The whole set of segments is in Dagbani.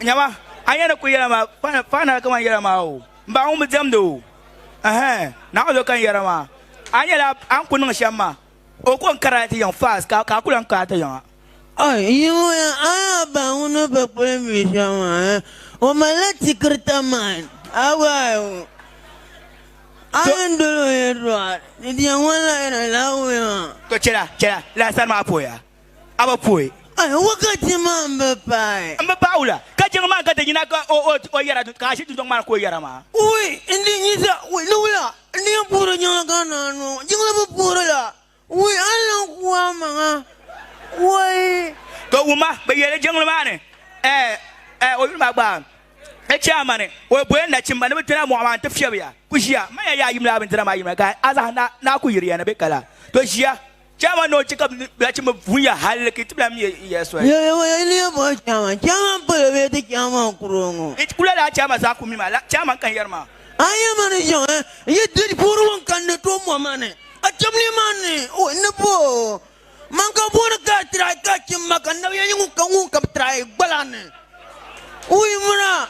Nyama, a yɛn ni kuli yɛla maa, paɣa nali kamani yɛla maa o, m ba ŋun bi diɛmdi o. Ɛhɛn, Naawuni zo ka n yɛra maa. A nyɛla a ni kuli niŋ shɛm maa, o ko n karila ti yiŋ fast ka a ku lan kaai ti yiŋ a. A yiŋya a ni a ba ŋun ni bi kuli mi shɛm maa, o malila tikirita man, a gbaai o. A yɛn dol o yɛtɔɣa, di diɛm ŋɔ lahi yɛn na Naawuni maa. To chɛla, chɛla, lala sani maa pooya. a bi pooi. Ayi, wakati maa n bi paai. N bi paai wula? Ka jiŋ maa ka ti yina ka o yɛra ka a ʒi dundɔŋ maa ni ka o yɛra maa? Wui, n di nyi sa. Wui, ni wula? N di yɛn puhiri jiŋ la ka naa ni o jiŋ la bi puhiri la. Wui, a ni lan ku a maŋa. Wui. Ka wuma, bi yɛli jiŋli maa ni, Ɛɛ, o yuli maa gba di chɛ a ma ni o boli nachimba ni bi ti na mɔɣu maa n-ti fiɛbi ya. Ku ʒiya, m ma ya yaa yim lala bindira maa yim la, ka a zaha naa ku yiri ya ni bɛ ka la. To ʒiya. Chama ni o chɛ ka bɛ nachimba vuya hali ka yi tibila mi ya soli. Yɛli ŋɔ yɛli ya bɔhi Chama. Chama m-pala bee ti Chama n-kuri o ŋɔ? Yi kula lala Chama zaa ku mi ma, lala Chama n-kan yɛri ma. A yi ma ni chaŋ, yi diri puhiri ŋun kani ni tooi mɔhi ma ni a cham ni ma ni o ni bɔh o. Man ka booni ka a tirahi ka a chim ma ka nabiya yi ŋun ka ŋun ka bɛ tirahi gbala ni o yi mira?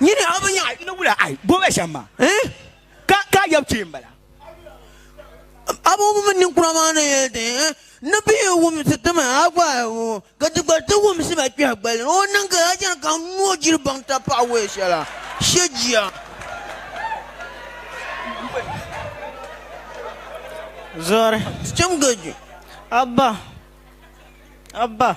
nyini a bi nyaɣi ni wula ai bobe shɛm ma eh? ka ka yɛb kpee n bala abɔbɔmi ninkura maa ni yɛli ti eh? ni bi yi wumsi ti ma a gba ai wo ka ti gba ti wumsi ba kpɛhi gbali o niŋ ka a chani ka noo jiri baŋ ta paɣa wee shɛla shɛ jia zɔri chɛm gaju abba abba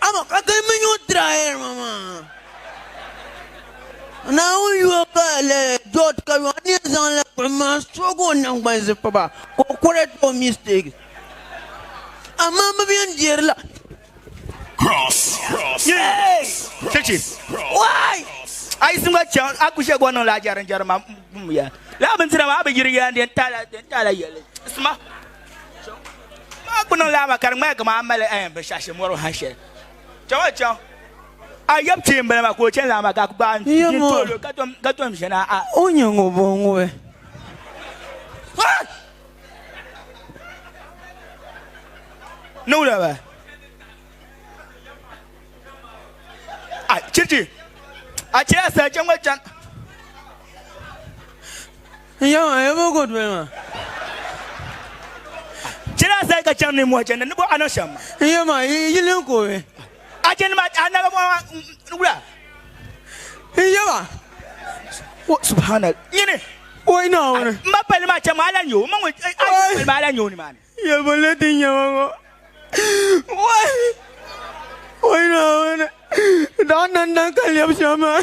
Amaa ka gilimi nyu dirayirima maa. Naawuni yuwa ka lala George Kaluwa ni yɛn zaŋ lala buɣim maa soogi o naŋgbani zipiba ka o correct o mistakes. Amaa bɛ bi yɛn deeri la. Yee! Chichi! Why? A yi simba chaŋ, a ku shɛg o niŋ la a jɛrinjɛri ma m ya. Lala bindira maa a bi yiri ya n-di n-taala yɛli. Sima! maa ku niŋla ma ka di ŋmani kamani mali ɛɛn binshɛɣu mɔri ha shɛli chaŋ chaŋ a yɛb kpee m-bala maa ka o chani la ma ka ku gbaai n toolo ka tom ʒe na a o nyɛ ŋɔ bɔ ŋɔ bɛ niŋla ba a chiriti a chiri a sali chaŋ ma chani N yɛm a yɛm o ko doli ma. Chɛli a zali ka chaŋ ninmɔhi chɛndi ni bo a niŋ shɛm. N yɛm a yi yili n ko mi. A chɛndi ma a naga mɔɣu maa n wula. N yɛm a. O subhana nyini. O yi Naawuni. M ba palli maa chaŋ ma a lan yo o ma ŋun a yi palli ma a lan yo o nimaani. Yɛlbulli din nyɛ ma ŋɔ. O yi Naawuni. Daɣu nandan ka lɛbi shɛm maa.